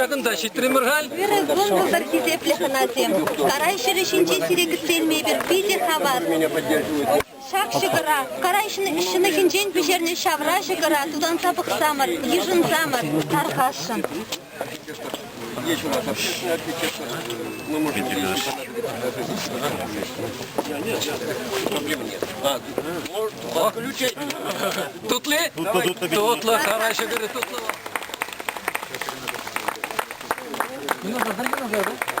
Ҫакӑнта ҫитрӗмӗр халь. Вырӑн кӑнтӑлтӑр хисеплӗ хӑнасем. Сарай ҫӗрӗ ҫинче сире кӗтсе илмепӗр питӗ хавас. Ҫак ҫӑкӑра карай ҫӑнӑхӗнчен пӗҫернӗ ҫавра ҫӑкӑра тутанса пӑхсамӑр, йышӑнсамӑр, тархасшӑн. Тутли? Тутлы, карай ҫӑкӑры тутлы. Немного дайте, пожалуйста.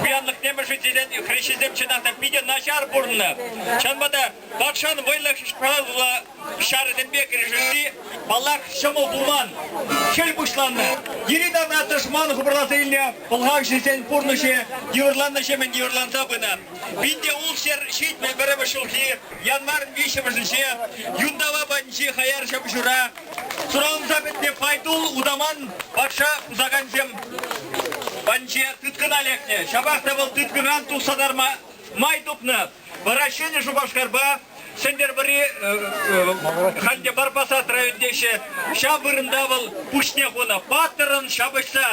Пуянлӑхне мӗшӗнчен хресченсем чӑнах та питӗ начар пурӑннӑ. Чӑнпа та тахҫан вӑйлӑ шкала ҫарӗсемпе кӗрешесси паллах ҫӑмӑл пулман. Хӗл пуҫланнӑ. Йӗри-тавра тӑшман хупӑрласа илнӗ пӑлхавҫӑсен пурнӑҫӗ йывӑрланнӑҫемӗн йывӑрланса пынӑ. Пин те ултҫӗр ҫитмӗл пӗрремӗш ҫулхи январьӑн виҫҫӗмӗшӗнче Юнтава патӗнчи хаяр ҫӑмҫура сураланса пӗтнӗ Файтул утаман патша пусакансем патӗнче тыткӑна лекнӗ. Ҫапах та вӑл тыткӑнран тухса тарма май тупнӑ. Вара Ҫӗнӗ Шупашкарпа Сӗнтӗрвӑри Ханде Барпасат район теҫҫӗ. Ҫав вырӑнта вӑл пуҫне хунӑ. Паттӑрӑн ҫапӑҫса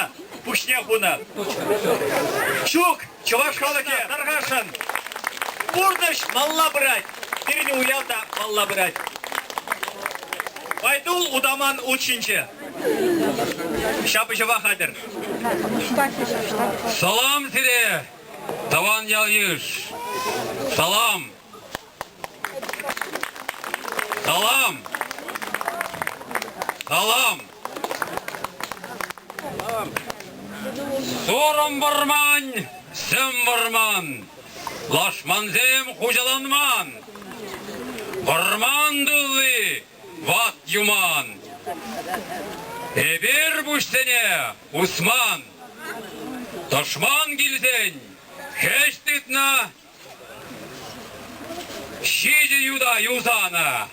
пуҫне хунӑ. Ҫук, Чӑваш халӑхӗ Тӑрхашӑн пурнӑҫ малла пырать. Пирӗн уяв та малла пырать. Байдул утаман ут ҫинче. Ҫапӑҫӑва хатӗр. Салам сире, тӑван ял-йыш! Салам! Салам! Салам! Сорым вӑрман, сӗм вӑрман, лашмансем хуҫаланман. Вӑрман тулли ват юман. Эпир пуҫсене усман. Тӑшман килсен хӗҫ тытнӑ Ҫичӗ юта юсанӑ.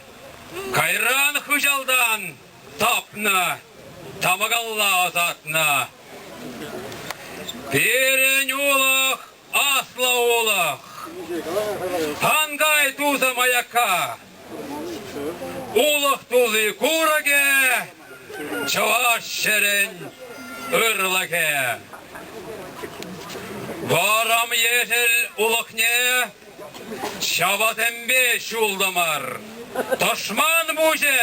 Кайран хыҫалтан тапнӑ, тамакалла ӑсатнӑ. Пирӗн улӑх, аслӑ улӑх. Ангай тусӑм аякка. Улӑх тулли курӑкӗ, чӑваш ҫӗрӗн ырлӑхӗ. Вӑрӑм ешӗл улӑхне ҫавасемпе ҫултӑмӑр. Тӑшман пуҫӗ